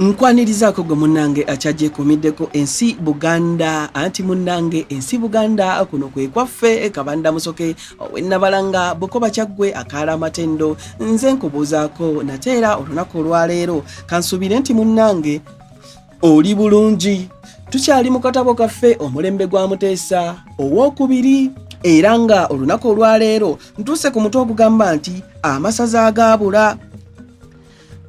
Nkwanirizaako gwe munnange akyagyekomiddeko ensi Buganda anti munnange ensi Buganda kuno kwe kwaffe kabanda musoke owennabalanga bukoba kyaggwe akaala amatendo nze nkubuuzaako nate era olunaku olwaleero kansuubire nti munnange oli bulungi tukyali mu katabo kaffe omulembe gwa muteesa ow'okubiri era nga olunaku olwaleero ntuuse ku mutwe ogugamba nti amasaza agaabula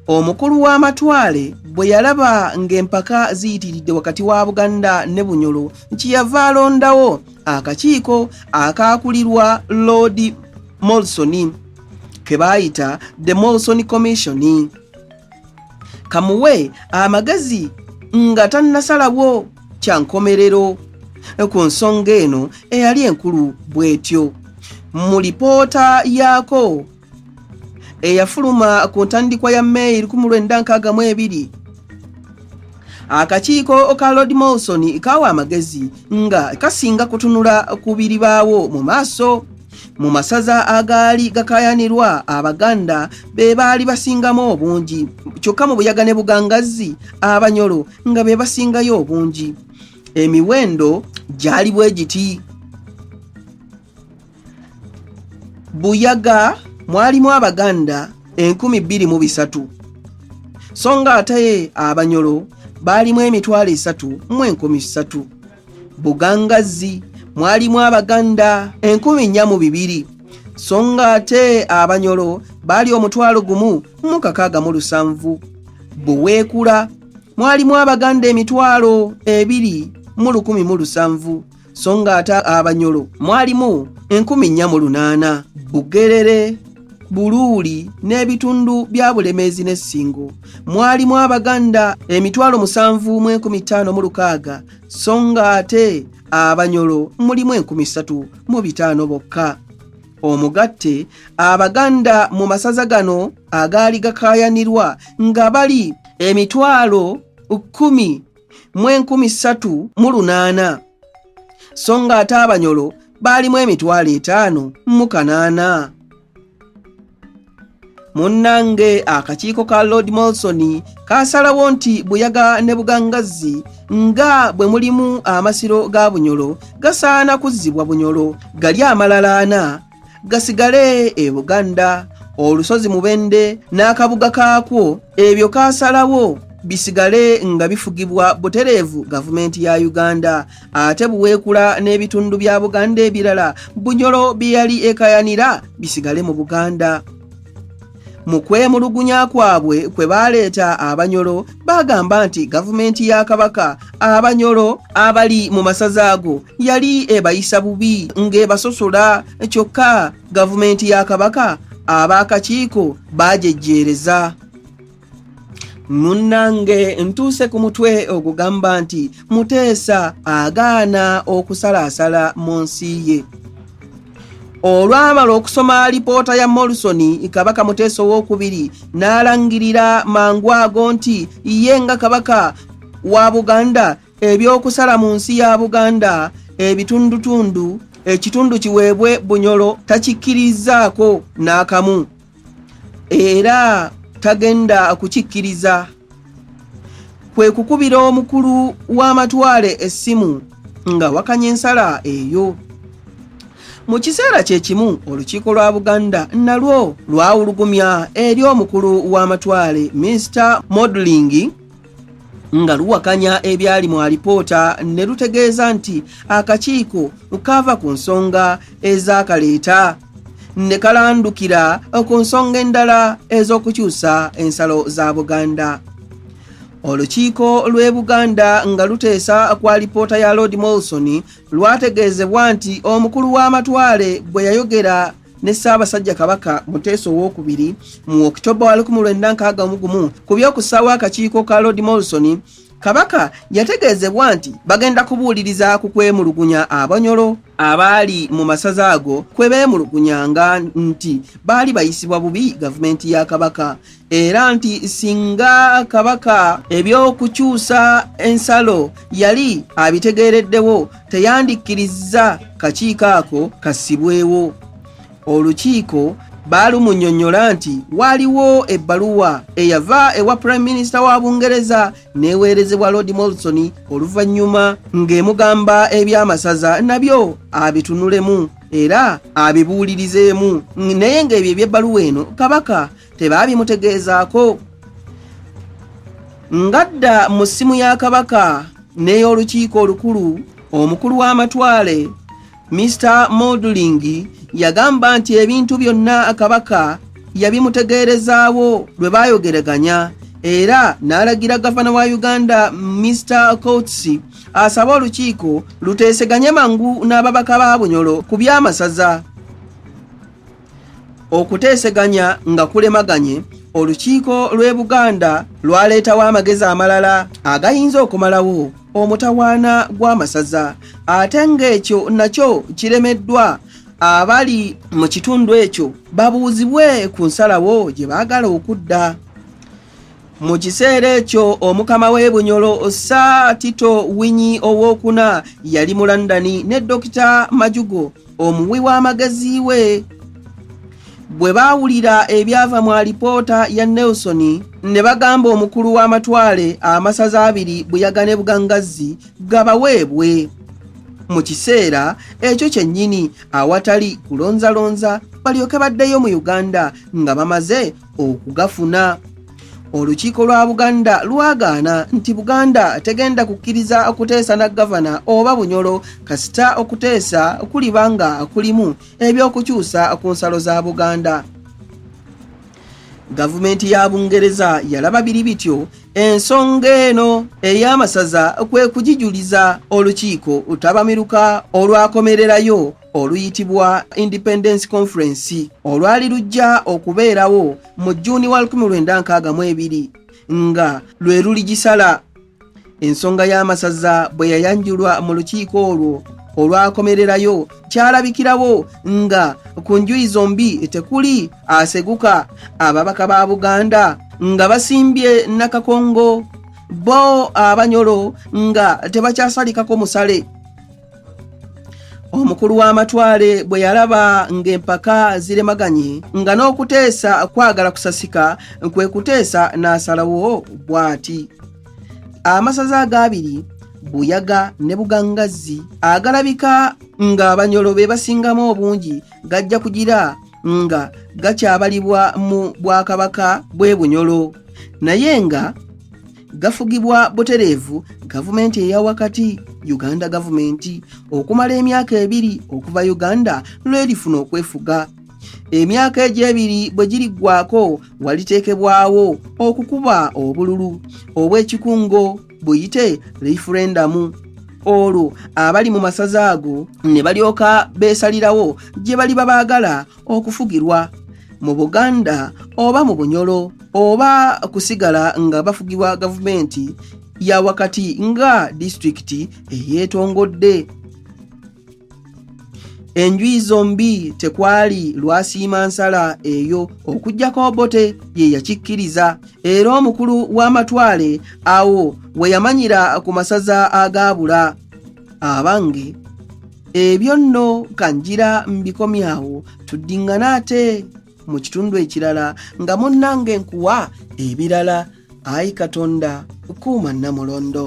Omukulu w'amatwale bwe yalaba ng'empaka ziyitiridde wakati wa Buganda ne Bunyoro nti yava alondawo akakiiko akaakulirwa Lord Molson ke baayita The Molson Commission kamuwe amagezi nga tannasalawo kya nkomerero ku nsonga eno eyali enkulu bw'etyo. Mu lipoota yaako eyafuluma ku ntandikwa ya May 1962 akakiiko ka Lord Molson kaawa amagezi nga kasinga kutunula ku biribaawo mu maaso mu masaza agaali gakayanirwa abaganda be baali basingamu obungi kyokka mu buyaga ne bugangazzi abanyolo nga be basingayo obungi emiwendo gyali bwe giti buyaga mwalimu abaganda enkumi bbiri mu bisatu so nga ate abanyolo baalimu emitwalo esatu mu enkumi ssatu bugangazzi mwalimu abaganda enkumi nnya mu bibiri so nga ate abanyolo baali omutwalo gumu mu kakaaga mu lusanvu buweekula mwalimu abaganda emitwalo ebiri mu lukumi mu lusanvu so nga ate abanyolo mwalimu enkumi nnya mu lunaana bugerere buluuli n'ebitundu bya bulemeezi ne ssingo mwalimu abaganda emitwalo musanvu mu enkumi ttaano mu lukaaga so nga ate abanyolo mulimu enkumi ssatu mu bitaano bokka omugatte abaganda mu masaza gano agaali gakaayanirwa nga bali emitwalo kkumi mu enkumi ssatu mu lunaana so nga ate abanyolo baalimu emitwalo etaano mu kanaana munnange akakiiko ka lord molson kaasalawo nti buyaga ne bugangazzi nga bwe mulimu amasiro ga bunyolo gasaana kuzzibwa bunyolo gali amalalaana gasigale e buganda olusozi mubende n'akabuga kaakwo ebyo kaasalawo bisigale nga bifugibwa butereevu gavumenti ya uganda ate buweekula n'ebitundu bya buganda ebirala bunyolo bye yali ekayanira bisigale mu buganda mu kwemulugunya kwabwe kwe baaleeta abanyolo baagamba nti gavumenti ya kabaka abanyolo abali mu masaza ago yali ebayisa bubi ng'ebasosola kyokka gavumenti ya kabaka abaakakiiko baajejjeereza munnange ntuuse ku mutwe ogugamba nti muteesa agaana okusalaasala mu nsi ye olwamala okusoma alipoota ya morrison kabaka muteesa owokubiri n'alangirira mangu ago nti ye nga kabaka wa buganda ebyokusala mu nsi ya buganda ebitundutundu ekitundu kiweebwe bunyolo takikkirizzaako n'akamu era tagenda kukikkiriza kwe kukubira omukulu w'amatwale essimu nga wakanya ensala eyo mu kiseera kye kimu olukiiko lwa buganda nalwo lwawulugumya eri omukulu w'amatwale mr modeling nga luwakanya ebyali mu alipoota ne lutegeeza nti akakiiko kaava ku nsonga ezakaleeta ne kalandukira ku nsonga endala ez'okukyusa ensalo za buganda olukiiko lw'e buganda nga luteesa kwa lipoota ya lord molson lwategeezebwa nti omukulu w'amatwale bwe yayogera ne ssaabasajja kabaka muteesa owokubiri mu okitoba wa 1961 ku by'okussaawo akakiiko ka lord molson Kabaka yategeezebwa nti bagenda kubuuliriza ku kwemulugunya abanyolo abaali mu masaza ago kwe beemulugunyanga nti baali bayisibwa bubi gavumenti ya Kabaka era nti singa Kabaka eby'okukyusa ensalo yali abitegeereddewo teyandikkirizza kakiiko ako kasibwewo. olukiiko baalumunyonyola nti waaliwo ebbaluwa eyava ewa prime minister wa bungereza neweerezebwa lord molson oluvannyuma ng'emugamba eby'amasaza nabyo abitunulemu era abibuulirizeemu naye ng'ebyo eby'ebbaluwa eno kabaka tebaabimutegeezaako ngadda mu ssimu ya kabaka n'ey'olukiiko olukulu omukulu w'amatwale Mr Moduling yagamba nti ebintu byonna akabaka yabimutegeerezaawo lwe baayogereganya era n'alagira gavana wa uganda mr coats asaba olukiiko luteeseganye mangu n'ababaka ba bunyolo ku by'amasaza okuteeseganya nga kulemaganye olukiiko lw'e buganda lwaleetawo amagezi amalala agayinza okumalawo omutawaana gw'amasaza ate ng'ekyo nakyo kiremeddwa abali mu kitundu ekyo babuuzibwe ku nsalawo gye baagala okudda mu kiseera ekyo omukama w'e bunyolo sir tito winyi owokuna yali mu london ne dokita majugo omuwi w'amagezi we bwe baawulira ebyava mu alipoota ya nelson ne bagamba omukulu w'amatwale amasaza abiri buyaga ne bugangazzi gabaweebwe mu kiseera ekyo kyennyini awatali kulonzalonza balyoke baddeyo mu uganda nga bamaze okugafuna olukiiko lwa buganda lwagaana nti buganda tegenda kukkiriza kuteesa na gavana oba bunyolo kasita okuteesa kuliba nga kulimu ebyokukyusa ku nsalo za buganda gavumenti ya bungereza yalaba biri bityo ensonga eno ey'amasaza kwe kugijuliza olukiiko utabamiruka olwakomererayo oluyitibwa Independence Conference olwali lujja okubeerawo mu Jjuuni wa 1962 nga lwe luligisala. Ensonga y'amasaza bwe yayanjulwa mu lukiiko olwo olwakomererayo kyalabikirawo nga ku njuyi zombi tekuli aseguka ababaka ba Buganda nga basimbye Nakakongo bo Abanyolo nga tebakyasalikako musale. omukulu w'amatwale bwe yalaba ng'empaka ziremaganye nga n'okuteesa kwagala kusasika kwe kuteesa n'asalawo bw'ati amasaza agaabiri buyaga ne bugangazzi agalabika ng'abanyolo be basingamu obungi gajja kugira nga gakyabalibwa mu bwakabaka bw'e bunyolo naye nga gafugibwa butereevu gavumenti eya wakati uganda gavumenti okumala emyaka ebiri okuva uganda lwerifuna okwefuga emyaka egyo ebiri bwe giriggwako waliteekebwawo okukuba obululu obw'ekikungo buyite referendamu olwo abali mu masaza ago ne balyoka beesalirawo gye baliba baagala okufugirwa mu buganda oba mu bunyolo oba kusigala nga bafugibwa gavumenti ya wakati nga disitulikiti eyeetongodde enjuyi zombi tekwali lwasiima nsala eyo okujjako obote ye yakikkiriza era omukulu w'amatwale awo we yamanyira ku masaza agaabula abange ebyo nno kanjira mbikomyawo tuddiŋŋana ate mu kitundu ekirala nga munnange nkuwa ebirala ayi katonda kuuma nnamulondo